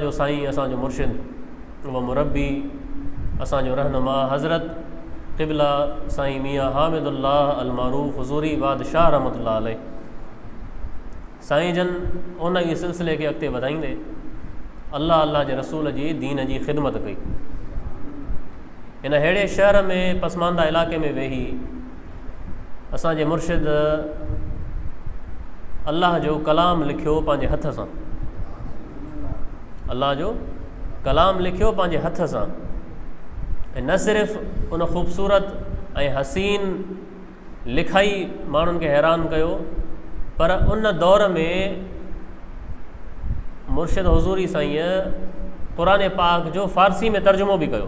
جو سائين اسان جو مرشد و مربي اسان جو رهنما حضرت قبله سائين ميان حامد الله المعروف حضوري بادشاهه رحمت الله عليه سائين جن ان ئي سلسلي کي اڳتي وڌائيندي الله الله جي رسول جي دين جي خدمت ڪئي ان ههڙي شهر ۾ پسمانده علاقي ۾ ويهي اسان جي مرشد الله جو ڪلام لکيو پنهنجي هٿ سان الله جو ڪلام لکيو پنهنجي هٿ سان ۽ نه صرف ان خوبصورت ۽ حسين لکائي ماڻهن کي حيران ڪيو پر ان دور ۾ مرشد حضوري سائين قرآن پاڪ جو فارسي ۾ ترجمو بि ڪيو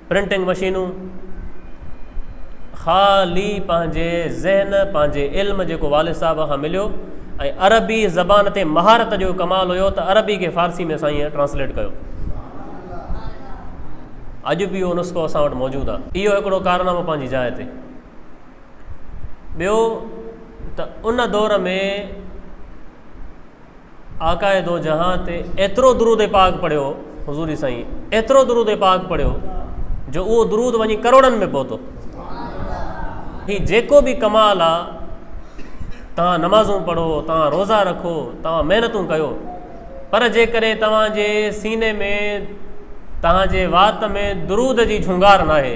پرنٽنگ مشينون خالي پنهنجي ذهن پنهنجي علم جيڪو والد صاحب کان مليو ۽ عربي زبان تي مهارت جو ڪمال هيو ته عربي کي فارسي ۾ سائين ٽرانسليٽ ڪيو اڄ به اهو نسخو اسان وٽ موجود آهي اهو هڪڙو ڪارنامو پنهنجي جاء تي ٻيو ته ان دور ۾ آقاء دو جهان تي ايترو درود پاڪ پڙهيو حضوري سائين ايترو درود پاڪ پڙهيو جو اهو درود وڃي ڪروڙن ۾ پهتو هي جيڪو به ڪمال آ توهان نمازون پڙهو توهان روزا رکو توهان محنتون ڪيو پر جيڪڏهن توهان جي سيني ۾ توهان جي وات ۾ درود جي جھونگار ناهي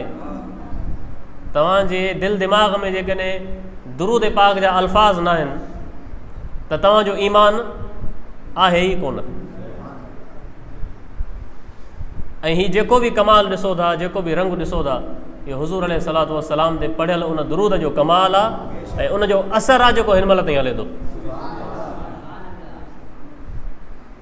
توهان جي دل دماغ ۾ جيڪڏهن درود پاڪ جا الفاظ نه آهن ته توهان جو ايمان آهي ئي ڪونه ۽ هي جيڪو به ڪمال ڏسو ٿا جيڪو به رنگ ڏسو ٿا اهو حضور عليه صلاحت وسلام تي پڙهيل ان درود جو ڪمال آ ۽ ان جو اثر آ جيڪو هن مهل تائين هلي ٿو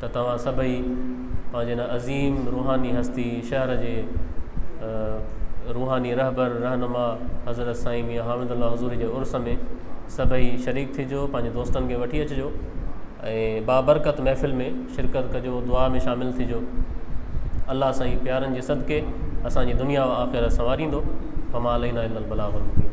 ته توهان سڀئي پنهنجي هن عظيم روحاني هستي شهر جي روحاني رهبر رهنما حضرت سائين ميان حامد الله حضوري جي عرس ۾ سڀئي شريڪ ٿجو پنهنجي دوستن کي وٺي اچجو ۽ بابرڪت محفل ۾ شرڪت ڪجو دعا ۾ شامل ٿجو الله سائين پيارن جي صدقي اسان جي دنيا و آخرت سنواريندو فما علينا الا البلاغ المبين